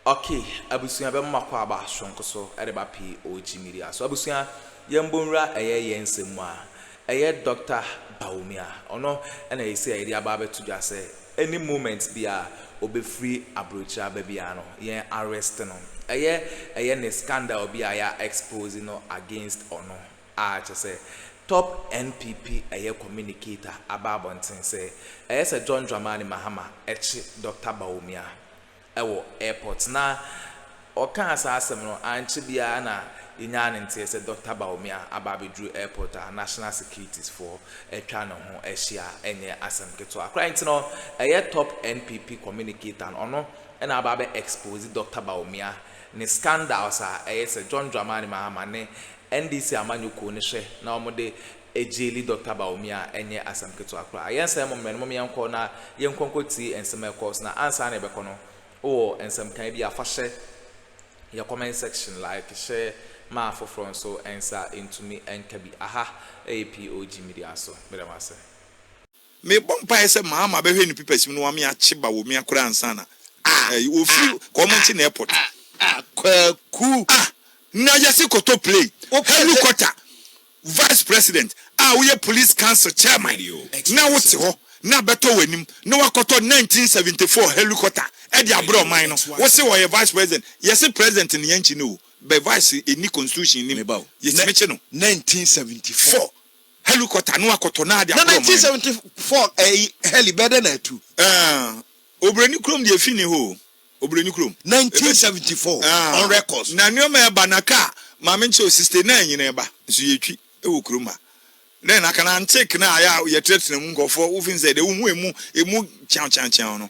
Ok abusua bɛma mo akɔ aba soronko so de ba pii oji media so abusua yɛn bɔ nwura ɛyɛ yɛn nsɛm mu a ɛyɛ Doctor Bawumia ɔno na ɛsɛ a yɛde aba abɛto dwa sɛ any moment bia ɔbɛfiri aburokyire aba bia no yɛn arrest no ɛyɛ ɛyɛ ne scandal bi a yɛ expose no against ɔno. a kyɛ sɛ top NPP ɛyɛ communicator aba abɔnten sɛ ɛyɛ sɛ John Dramani Mahama ɛkye Doctor Bawumia ɛwɔ airport na ɔkaa saa asɛm no ankyɛ biara na yɛnyaa ne nteɛ sɛ Doctor Bawumia aba abɛduru airport a National Securities foɔ atwa ne ho ahyia ɛnyɛ asɛm ketewa koraa nti no ɛyɛ top NPP communicator no ɔno ɛna aba abɛ expose Doctor Bawumia ne scandals a ɛyɛ sɛ John Dramani Mahama ne NDC amanyɔkuo no hwɛ na wɔn de Egyeli Doctor Bawumia ɛnyɛ asɛm ketewa koraa. Yɛn nsa yɛ momerɛ no mom yɛn kɔ na yɛn nkɔ nkɔ tie nsɛm a ɛkɔɔ so na ansa na yɛbɛkɔ no wo wɔ nsɛm kan bi a fa hyɛ yɛ comment section like hyɛ ma afoforɔ nso nsa ntumi nka bi aha ɛyɛ POG media so. Meda mo ase. Mebɔ mpaeɛ sɛ maama bɛhwɛ ne pipasim na wame akye Bawumia koraa ansa na eh, ɔfiri kɔ ɔmo nkye no airport. Ah ah kwaku. Ah na yɛse kɔtɔ plane, helicopter, vice president a woyɛ police council chairman na wote hɔ na abɛtɔ w'anim na wakɔtɔ 1974 helicopter de abrɛ ɔman no wose ɔyɛ vice president yɛse president no yɛnkye no o bɛ vice ɛnni constitution nim yɛtumi kye no 1974 Helikɔta no akɔtɔ no ade aboro ɔman no. Na 1974 ɛyi heli bɛɛ dɛ na atu. Ɛɛn, Obroni kurom deɛ efi ni hɔ o, Obroni kurom. 1974 on records. Na nneɛma ɛba na kaa maame nkyɛ o, sixty nine nyina ɛba, nso yɛtwi wɔ kurom ha. Dɛn na aka no, antique no a yɛ a yɛtenatena mu nkurɔfoɔ, wofeel sɛ deɛ wohu emu, emu kyeaw kyeaw kyeaw no.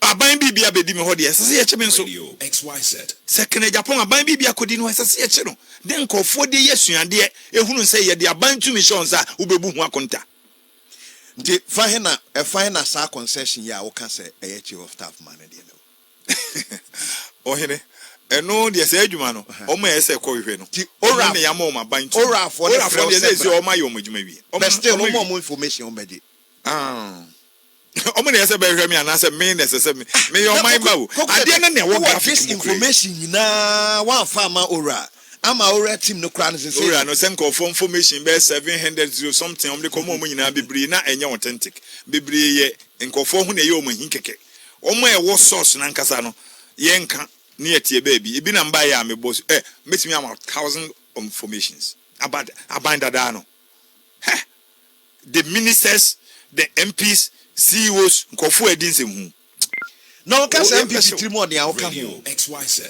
Aban bi bi abɛdi me hɔ deɛ, ɛsɛ sɛ yɛkye me nso. Sɛ Kanagyapɔn aban bi bi akɔdi no hɔ, ɛsɛ sɛ yɛkye no. Dɛn nkorɔfoɔ de yɛ suadeɛ, ɛhunu sɛ yɛde aban tumi hyɛ wo nsa a, wobɛbu ho akonta. Nti fa he na, ɛfa he na saa concession yi a woka sɛ ɛyɛ chief of staff ma no deɛ no wɔ? Ohene, ɛno deɛ saa adwuma no, wɔn a ɛyɛ sɛ ɛkɔ hwehwɛ no, wɔn ne yɛama wɔn aban tumi. Orafoɔ no frɛ wo sɛ bra. Orafoɔ no deɛ, sɛ ɛsɛ wɔn ayɛ wɔn adwuma awie. Wɔn bɛstil wɔn a wɔn information wɔn bɛgye. Aah. Wɔn na ɛsɛ sɛ bɛhwɛ me anaasɛ me na ɛsɛ sɛ meyɛ ɔman ba o? Adeɛ no na ɛwɔ graphic mu kura yi. Koko sɛ this information nyinaa wamfa amma Owura ama Owura team no koraa no sesei no. Owura no sɛ nkurɔfoɔ information bɛyɛ seven hundred zero something a wɔde kɔma wɔn nyinaa bebree na ɛnyɛ authentic. Bebree yɛ nkurɔfoɔ ho na ɛyɛ wɔn ahi kɛkɛ. Wɔn a ɛwɔ source no ankasa no yɛnka na yɛteɛ baabi. Ebi na mbaeɛ a mebɔ su eh mɛtumi ama wo thousand informations about Aban Dadaa no. Heh! the ministers, the MPs, CEOs, nkurɔfo a ɛdi nsɛm hu. Na ɔka sɛ MPs tirim ɔden a ɔka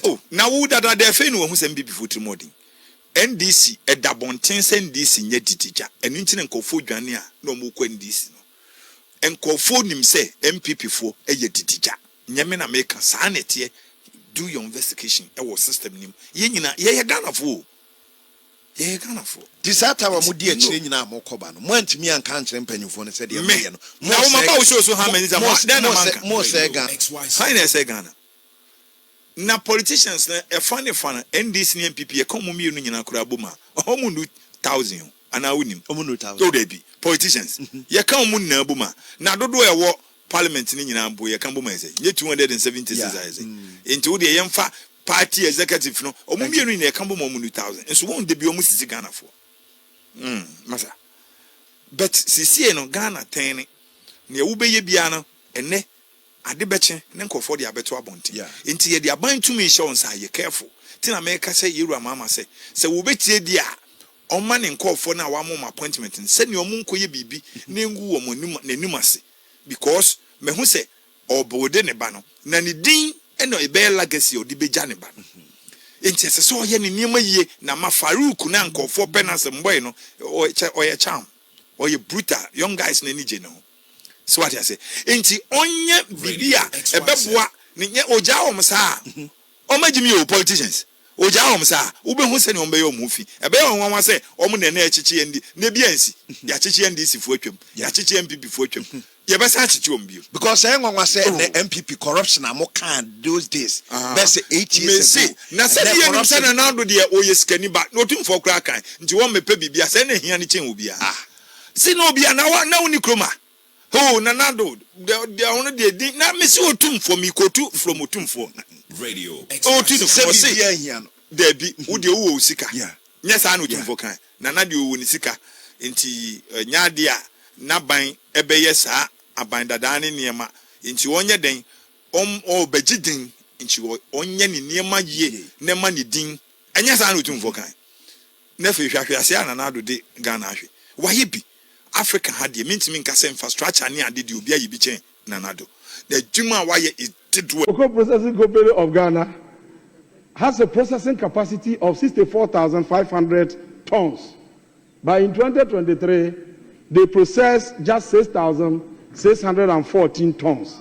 ho. Oh, na wo dada dɛ afei na wahu sɛ MPP foɔ tirim ɔden. NDC ɛda abɔnten sɛ NDC nyɛ didi gya. Ɛno nti na nkurɔfoɔ dwane a na wɔn rekɔ NDC no. Nkurɔfoɔ nim sɛ MPP foɔ ɛyɛ didi gya. Nyɛ me na meka, saa na ɛteɛ. Do your investigation ɛwɔ system no mu. Yɛn nyinaa, yɛyɛ Ghanafoɔ o. Yɛyɛ Ghanafoɔ. Nti saa time a modi akyire nyinaa a mokɔ ba no, moantumi anka ankyerɛ mpanyimfoɔ no sɛ deɛ moyɛ no, mosɛe Ghana. Na politicians no ɛfa ne fa no, NDC ne NPP, yɛka wɔn mmienu nyinaa koraa bom a, wɔn nnu thousand o, anaa wonim? Wɔn nnu thousand. Daabi, politicians, yɛka wɔn nyinaa bom a, na dodoɔ a ɛwɔ Parliament no nyinaa mpo yɛka bom ayɛ sɛ nyɛ two hundred and seventy six ayɛ sɛ nti wo deɛ yɛn fa party executive no wɔn mmienu nyinaa yɛka bom wɔn ni thousand nso wɔn dabi wɔn sisi Ghana foɔ mm masa but sisie no Ghana tɛn ne nea wo bɛyɛ biara no ɛnɛ ade bɛkye ne nkorɔfoɔ de abɛto abɔnten nti yɛde aban tumi hyɛ wɔn nsa yɛ careful ti na mɛka sɛ yɛwura maama sɛ sɛ wo bɛtie deɛ a Ɔmma ne nkorɔfoɔ no a wama wɔn appointment no sɛdeɛ wɔn nkɔyɛ biribi na ɛngu wɔn anim n'anim ase because mahu sɛ ɔrebuilde ne ba no na ne din na ɛbɛyɛ legacy a ɔde bɛgya ne ba no nti ɛsɛ sɛ ɔyɛ ne nneɛma yie na ma Farouk no a nkorɔfoɔ pɛ no asɛm boy no ɔyɛ ɔyɛ charm ɔyɛ brutal young guys no ani gye ne ho so wate ase nti ɔnyɛ biribi a ɛbɛboa ne nyɛ ɔgyaa wɔn saa a wɔn agyimi o politicians. Ogyaa wɔn saa a, wubehu sɛnea wɔbɛyɛ wɔn ho fi. Ɛbɛyɛ wɔn nwanwa sɛ wɔn na ɛnnɛ yɛakyekye ND, nnɛ bi ansi, yɛakyekye NDC fo atwam, yɛakyekye NPP fo atwam, yɛbɛsan akyekye wɔn bio. Because ɛyɛ nwanwa sɛ ɛnnɛ Oh. NPP corruption a mokaa those days, Ah, bɛyɛ sɛ eight years mese, ago, na sɛnea ɛnnɛ yɛnim sɛ corruption Nana Addo deɛ ɔyɛ sikani ba, na otumfoɔ koraa kan, nti wɔmmɛpɛ biribiara, sɛ ɛna hia no kyɛn obiara. Ah. Se na obiara, na wa, na wonni kurom a, Hoo Nana Addo deɛ deɛ ɔno deɛ din na mesi otumfoɔ mikotu from otumfoɔ na ɔtu no from ɔse daabi wo deɛ wowɔ wo sika nyɛ saa na otumfoɔ kae Nana deɛ ɔwɔ ne sika nti ɛnyɛ adeɛ a n'aban ɛbɛyɛ saa aban dadaa ne nneɛma nti ɔnyɛ dɛn ɔm ɔbɛgye din nti ɔnyɛ ne nneɛma yie na ɛma ne din ɛnyɛ saa na otumfoɔ kae. Na afei hwɛ ahwease a Nana Addo de Ghana ahwe. Wayɛ bi. Africa ha deɛ, mentumi nka sɛ infrastructure ne ade deɛ obi ayɛ bi kyɛn Nana Addo. N'adwuma a wayɛ is dedoɛ. Cocoa Processing Company of Ghana has a processing capacity of sixty four thousand five hundred tons but in twenty twenty three they processed just six thousand six hundred and fourteen tons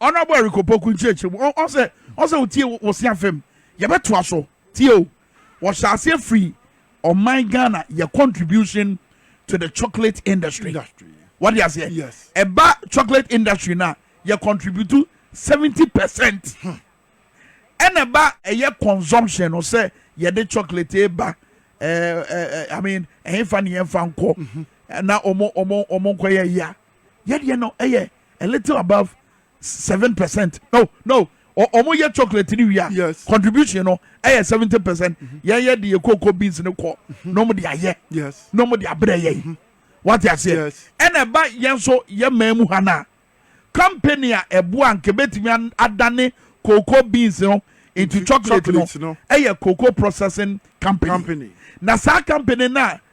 Honourable Eric Opoku nkyerɛkyerɛ mu, ɔsɛ ɔsɛ wotie wosea fam. Yɛbɛtoa so, tie o. Wɔhyɛ aseɛ firi ɔman Ghana yɛ contribution to the chocolate industry. Wode aseɛ? Ɛba chocolate industry no a, yɛ contribute 70 percent. Ɛna ɛba ɛyɛ consumption no sɛ yɛde chocolate ba ɛɛ I mean ɛhefa ne yɛmfa nkɔ na ɔmo ɔmo ɔmo nkɔyɛ ya. Yɛdeɛ no ɛyɛ a little above seven percent no no wɔn yɛ chocolate ni wia yes. contribution no ɛyɛ seventy percent mm-hmm. yɛn yɛ de yɛ cocoa beans no kɔ mm-hmm. nom de ayɛ yes. nom de abrɛ yɛ mm-hmm. wate aseɛ yes. ɛna ɛba yɛn so yɛ mmaa mu ha na company a ɛboa nka ebetumi adane cocoa beans no into chocolate no ɛyɛ cocoa processing company, company. na saa company na.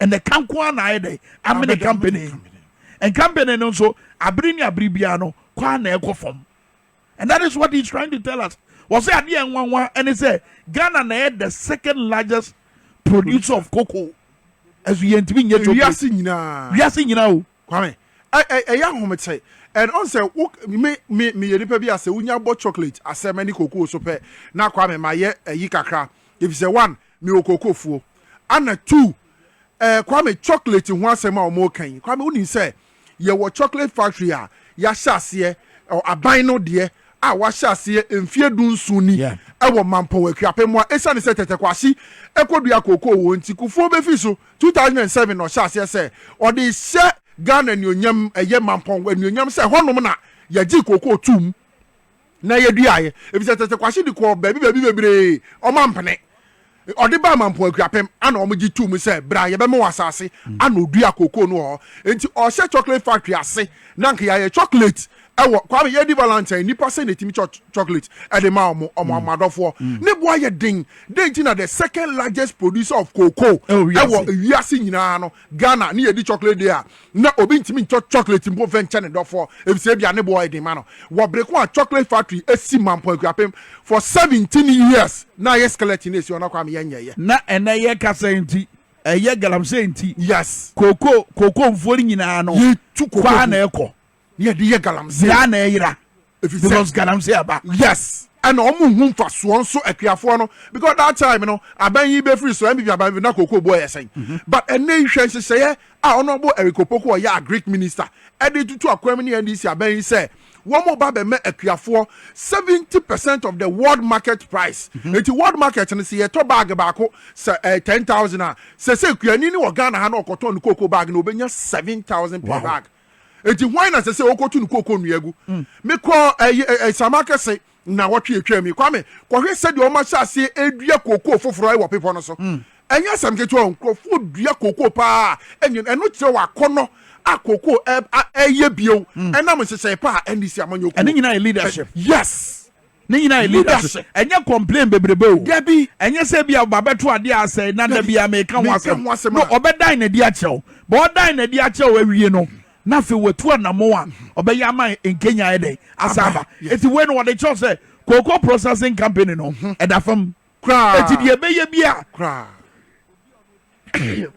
ɛnɛ ka nko ara na ayɛ dɛ amene kampene yi. Nkampene no nso abere ne abere biara no kɔ ara na ɛkɔ fam. And that is what he is trying to tell us. Wɔsɛ adeɛ nwanwa ɛne sɛ Ghana na ɛyɛ the second largest producer of cocoa. Ɛso yɛntumi nyɛ chocolate. Wiase nyinaa. Wiase nyinaa o. Kwame, ɛ ɛyɛ ahomete and ɔn sɛ wo me me me yɛ nipa bi a sɛ wo nya bɔ chocolate asɛ mɛ ne kokoo so pɛ na Kwame ma yɛ ayi kakra efisɛ one me wɔ kokoo fuo ana two ɛ Kwame chocolate ho asɛm a ɔmo ka yi Kwame wo nim sɛ yɛ wɔ chocolate factory a ya hyɛ aseɛ ɔ aban no deɛ a wa hyɛ aseɛ mfie du nson ni yeah. ɛwɔ Mampɔn Akuapem hɔ a esane sɛ Tɛtɛkwahye ɛkɔ dua kokoo wɔ nti kufuo bɛ fi so Two thousand and seven na ɔhyɛ aseɛ sɛ ɔde rehyɛ Ghana anuonyam, ɛyɛ Mampɔn anuonyam sɛ ɛhɔnom na yɛgyee kookoo toom na yɛduaaeɛ efisɛ Tete Kwahye de kɔɔ baabi baabi bebree, ɔmampene. Ɔde baa Mampɔn Akuapem ana wɔgye toom sɛ bra yɛbɛma wo asase ana ɔduaa kookoo no wɔ hɔ. Enti ɔrehyɛ chocolate factory ase na anka yɛayɛ chocolate ɛwɔ kwame yɛdi valentine nipa sɛ na etimi kyɛ chocolate ɛde ma ɔmo ɔmo ɔmo mm. adɔfoɔ mm. ne boa yɛ den den ti na the second largest producer of cocoa ɛwɔ wiase nyinaa no ghana ne yɛdi chocolate day a na obi ntumi nkyɛ chocolate mpo fɛ nkyɛ ne dɔfoɔ efisɛ ebi a ne boa yɛ den ma no wɔ bere ko a chocolate factory esi mampɔn akuapem for seventeen years na ayɛ skeleton esi ɔna kwame yɛ nyɛ yɛ. na ɛnɛ yɛ kasa nti ɛyɛ galamsey nti. yes koko koko nfuo nyinaa no. yɛ tu koko kɔ a na ɛkɔ. ne yɛde yɛ galamsey. Yera na ɛyera. Efisɛ because galamsey aba. Yes ɛna wɔn nhu nfasoɔ nso akuafoɔ no because that time no aban yi bɛfiri so mpp aban bi na koko boɔ yɛ sɛn mhm. but ɛnɛ yi hwɛ nhyehyɛeɛ a ɔnɔbo Eric Opoku ɔyɛ agric minister ɛde tutu akwan mu ne ndc aban yi sɛ wɔn ba bɛmɛ akuafoɔ seventy percent of the world market price mhm. eti world market no sɛ yɛtɔ bag baako sɛ ɛɛ eh, ten thousand a sɛ sɛ kuani ne wɔ Ghana ha na ɔkɔtɔn ne koko bag na ɔbɛnya seven thousand per bag. Wow. Enti hwan na ɛsɛ sɛ ɔkɔtu ne kooko nnua gu? Mekɔɔ Sama Kɛse nnawɔtwe a ɛtwaam yi, Kwame, kɔhwɛ sɛdeɛ wɔahyɛ aseɛ redua kooko foforɔ wɔ bepɔ no so. Ɛnyɛ asɛm ketewa o, nkurɔfoɔ dua kooko pa ara a ɛno kyerɛ wɔ akɔnnɔ a kooko reyɛ bio ɛnam nhyehyɛe pa a NDC amanyɔkuo. Ɛno nyinaa yɛ leadership. Yes! Ne nyinaa yɛ leadership. Ɛnyɛ complain bebrebe o. Dabi. Ɛnyɛ sɛ ebia ɔba bɛto adeɛ a asɛe na da biara meka ho asɛm. Meka ho asɛm a. No, ɔbɛdan n'adi akyerɛ wo. But ɔdan n'adi akyerɛ wo awie no, na afei watu anammɔn a ɔbɛyɛ ama Nkenya ayɛ dɛn? Asan aba. Enti wei no wɔde kyerɛ wo sɛ Cocoa Processing Company no, ɛda fam. Eti deɛ ɛbɛyɛ bi a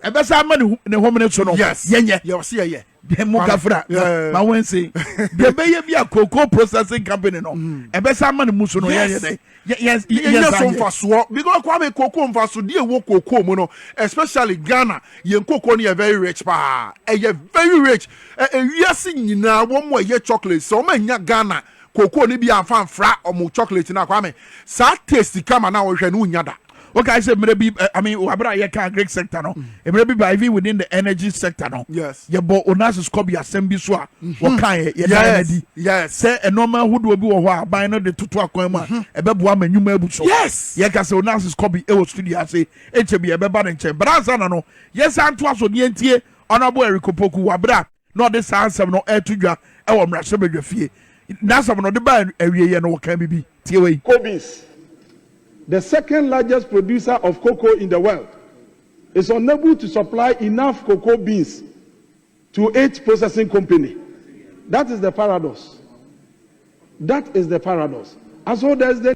ɛbɛsa ama ne homene so no yɛnyɛ deɛ mo gafra ma wɔn nse deɛ ɛbɛyɛ bi a cocoa processing company no mm. ɛbɛsa ama ne mu so no yɛnyɛ dɛ yɛnyɛ so mfasoɔ because kwame cocoa mfaso deɛ ɛwɔ cocoa mu no especially ghana yɛn cocoa no yɛ very rich paa ɛyɛ very rich ɛwiase nyinaa wɔn a ɛyɛ chocolate sɛ wɔn anya ghana Cocoa no bi anfa mfra ɔmo chocolate no a Kwame, saa taste kama no a wɔhwehwɛ no wonnya da. Wokae sɛ mmerɛ bi, I mean, wɔ berɛ a yɛkaa Greek sector no, mmerɛ bi ba even within the energy sector no, yɛbɔ Onassis Corbie asɛm bi so a wɔkaeɛ, yɛdaa no adi sɛ nnoɔma ahodoɔ bi wɔ hɔ a aban no de toto akwan mu a ɛbɛboa ma nnwuma abu so. Yɛka sɛ Onassis Corbie wɔ studio ase, nkyɛ bi yɛbɛba ne nkyɛn. But ansa na no, yɛnsan ntoa so na yɛntie Honourable Eric Opoku wɔ berɛ a na ɔde saa nsɛm no reto dwa wɔ mmarahyɛbadwafie. N'asɛm no, ɔde baa awieeɛ no, ɔkaa biribi. Tie wei. Cobeans, the second largest producer of cocoa in the world, is unable to supply enough cocoa beans to its processing company. That is the paradox. That is the paradox. And so there is the.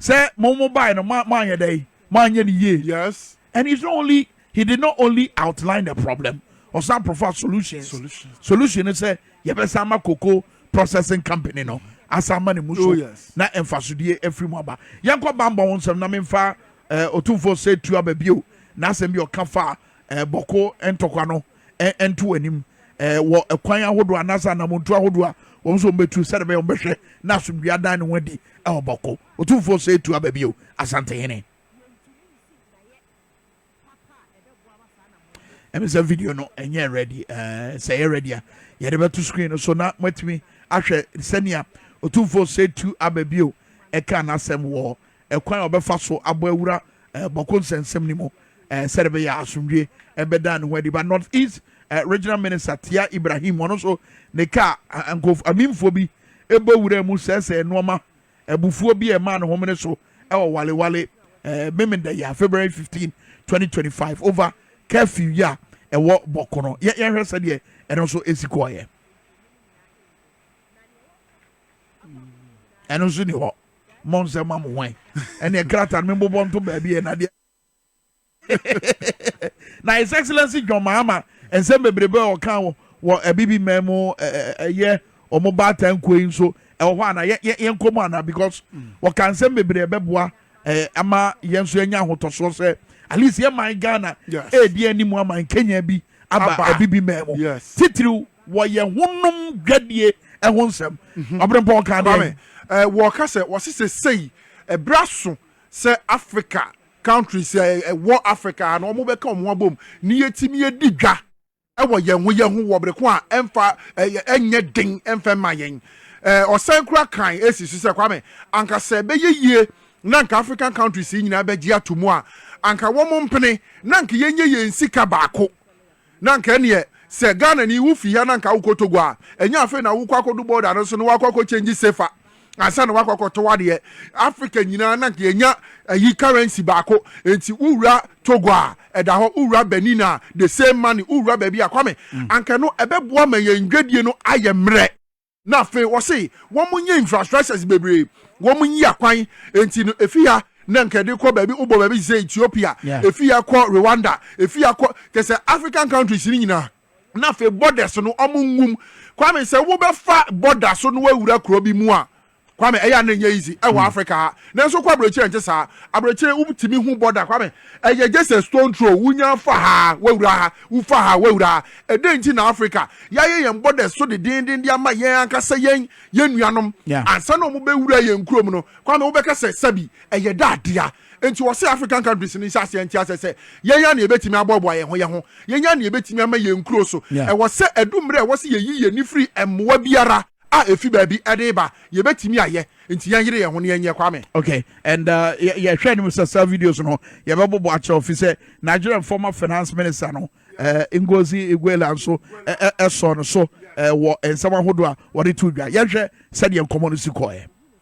Sɛ mo mo bae no mo anyɛ dɛn mo anyɛ ne yie yes and it's not only he did not only outline the problem ɔsan profa solutions solution solution no sɛ yɛbɛsan ma koko processing company no asan ma ne mu so oh, yes. na mfasodie afiri mu aba yɛn kɔ bambɔ ho nsɛm na memfa eh, otumfoɔ sɛ tu aba bio na asɛm bi ɔka fa eh, bɔko ntɔkwa no ɛnto anim wɔ kwan ahodoɔ anaasɛ anamontuo ahodoɔ a wɔn nso wɔbɛtu sɛdeɛ bɛyɛ wɔbɛhwɛ na asomdwoeɛ adan ne ho adi wɔ bɔko ɔtumfoɔ sɛ ɛtu aba bio asantehene ɛmi sɛ video no ɛnyɛ ready ɛɛ sɛ ɛyɛ ready a yɛde bɛto screen no so na moatumi ahwɛ sɛnea ɔtumfoɔ sɛ ɛtu aba bio ɛka n'asɛm wɔ ɛkwan a ɔbɛfa so abɔ awura Bɔko nsɛnsɛm no mu sɛdeɛ ɛbɛyɛ a asomdwoeɛ bɛda ne ho adi. But North East Regional Minister Tia Ibrahim, ɔno nso ne kaa nkurɔfoɔ amimfoɔ bi bɔ wuraa mu sɛesɛee nnoɔma, abufuo bi a ɛmaa no homene so wɔ Wale Wale Meme da yi a February 15, 2025 over curfew yi a ɛwɔ Bɔko no. Yɛnhwɛ sɛdeɛ ɛno nso si kɔeɛ. ɛno nso ni hɔ mmɔ nsɛm ma mo hwan ɛneɛ krata no membobɔ nto baabi ɛ nadeɛ na his excellency john mahama nsɛm bebrebe a ɔka wɔ wɔ abibi mmaa mu ɛyɛ wɔn baatan nkuo yi nso ɛwɔ hɔ ana yɛn kɔn mu ana because wɔka mm. nsɛm bebree ɛbɛboa ɛɛ ama yɛn nso yɛnya ahotɔsoɔ sɛ at least yɛ man ghana ɛɛdi anim ama nkenya bi aba abibi mmaa mu titiriw wɔyɛ honom dwadie ho nsɛm. Mhm. Ɔberempɔn kaa dɛn? Eh, wɔka sɛ wɔse sesei ɛberɛ eh, aso sɛ Africa countries ɛwɔ eh, Africa ha no wɔbɛka wɔn ho abom na yɛtumi adi dwa wɔ yɛn ho yɛn ho wɔ bere ko a ɛmfa ɛnyɛ den ɛmfa mma yɛn ɔsan kura kan esi so sɛ kwame anka sɛ ɛbɛyɛ yie na nka african countries yi nyinaa bɛgye ato mu a anka wɔn mpene na nka yɛnyɛ yɛn sika baako Na anka ɛneɛ sɛ Ghana ni wo firi ha na anka wokɔ Togo a ɛnyɛ afei na wokɔ akɔdu border no so na wakɔ akɔ change sefa ansa na wakɔ akɔtɔ wadeɛ Africa nyinaa na anka yɛnya ayi currency baako nti wowura Togo a ɛda hɔ wowura Benin a the same money wowura baabi a Kwame anka ɛno ɛbɛboa ma yɛn dwadie no ayɛ mmerɛ. Na afei wɔse wɔn nye infrastructures bebree wɔn nyi akwan nti no efi ha na nka ɛde kɔ baabi wobɔ baabi sɛ Ethiopia efi ha kɔ Rwanda efi ha kɔ kyɛ sɛ African countries no nyinaa. Na afei borders no wɔn nwum Kwame sɛ wobɛfa border so na wawura kuro bi mu a. Kwame, ɛyɛ a na ɛnyɛ easy ɛwɔ Africa ha, nanso kɔ aburokyire ɛnte saa. Aburokyire wotumi hu border Kwame, ɛyɛ just a stone throw, wunya fa ha a, w'awura ha, wufa ha a, w'awura ha. Ɛdɛn nti na Africa y'ayɛ yɛn borders so dedeenden de ama yɛn ankasa yɛn yɛn nuanom? Ansa na wɔn bɛ wura yɛn kurom no, Kwame wo bɛka sɛ sɛbi ɛyɛ da adea. Nti wɔ se African countries no nhyɛ aseɛ nte asɛ sɛ yɛn a na yɛbɛtumi aboaboa yɛn ho yɛn ho, yɛn a na yɛbɛtumi ama yɛn nkuro so. Ɛwɔ sɛ ɛdu mmerɛ a ɛwɔ sɛ yɛyi yɛn ani firi mmoa biara. a efi baabi de reba yɛbɛtumi ayɛ nti yɛnyere yɛn ho na yɛnyɛ Kwame. Okay and uh, yɛhwɛ anim sɛ saa videos no yɛbɛbobɔ akyerɛw fi sɛ Nigerian former finance minister no uh, Ngozi Iguela nso ɛsɔ no so uh, wɔ nsɛm ahodoɔ a wɔde to dwa. Yɛhwɛ sɛdeɛ nkɔmmɔ no si kɔɛ.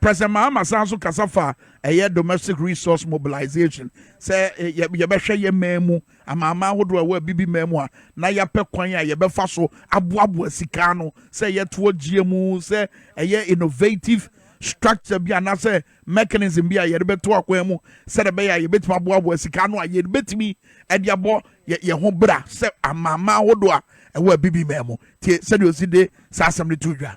President Mahama san nso kasa faa ɛyɛ domestic resource mobilization, sɛ yɛbɛhwɛ yɛn man mu amanaman ahodoɔ a ɛwɔ Abibiman mu a na yɛapɛ kwan a yɛbɛfa so aboaboa sika ano sɛ yɛtoɔ gyeɛ mu, sɛ ɛyɛ innovative structure bi anaasɛ mechanism bi a yɛde bɛto akwan mu sɛdeɛ ɛbɛyɛ a yɛbɛtumi aboaboa sika ano a yɛbɛtumi de abɔ yɛn ho bra sɛ amanaman ahodoɔ a ɛwɔ Abibiman mu. Tie sɛdeɛ ɔsi de saa asɛm no to dwa.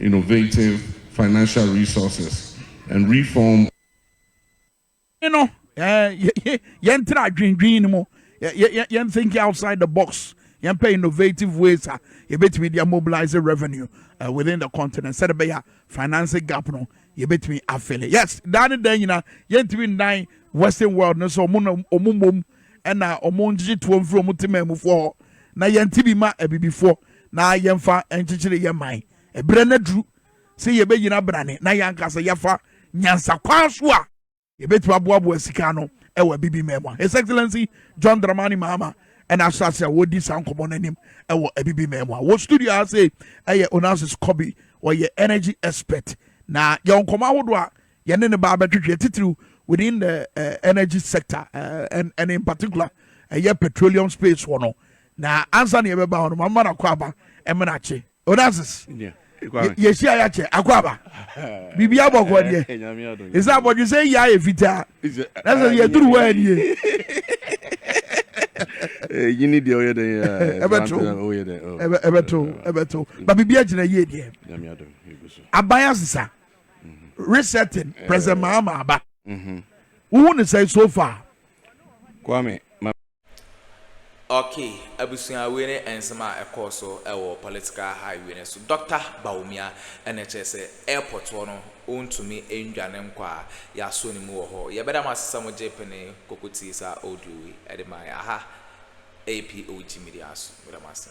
innovative financial resources and reform. no, yɛntra adwendwen no mu, yɛn thinking outside the box, yɛmpɛ innovative ways a yɛbɛtumi de mobilize revenue uh, within the continent sɛde bɛyɛ a financing gap no yɛbɛtumi afele yes daa ne daa nyina yɛntumi nnan western world no sɛ ɔmo mmom ɛna ɔmo ngyegye toɔ mfiri ɔmo te maamufoɔ hɔ na yɛnte bi ma abibifoɔ na yɛmfa nkyekyere yɛn man. Ɛberɛ no aduru sɛ yɛbɛgyina berane na yɛn ankasa yɛafa nyansa kwan so a yɛbɛtumi aboaboa sika ano wɔ Abibiman mu. His Excellency John Dramani Mahama ɛna ahyɛ ase a wɔredi saa nkɔmmɔ no anim wɔ Abibiman mu a wɔ studio ha sei ɛyɛ Onassis Kobi ɔyɛ energy expert na yɛwɔ nkɔmmɔ ahodoɔ a yɛne ne ba abɛtwetwe titiriw within the uh, energy sector uh, and, and in particular ɛyɛ uh, petroleum space wɔ no Na ansa na yɛbɛba hɔ no, mama no akwaaba mmena akye. Onassis, yɛhyiaeɛ akyɛ, akwaaba. Biribi abɔkɔ deɛ. Ɛsɛ abɔdwesɛ yi ayɛ fitaa. Na sɛ yɛduru hɔ anie. Yini deɛ ɔyɛ dɛn yɛ. Ɛbɛto. Ɛbɛto. Ɛbɛto. Ba biribi agyina yie deɛ. Aban asesa. Mm-hmm. Resetting. President Mahama aba. Mm-hmm. Wohu ne sɛ so far. Kwame. Ok abusua wei ne nsɛm a ɛkɔɔ so wɔ political high wei no so Doctor Bawumia na kyerɛ sɛ airport hɔ no ɔntumi ndwane nkɔ a yɛasɔ ne mu wɔ hɔ yɛbɛda mo ase sɛ mo gye pene koko tie saa audio wei ɛde ma yɛ aha ɛyɛ POG media so meda mo ase.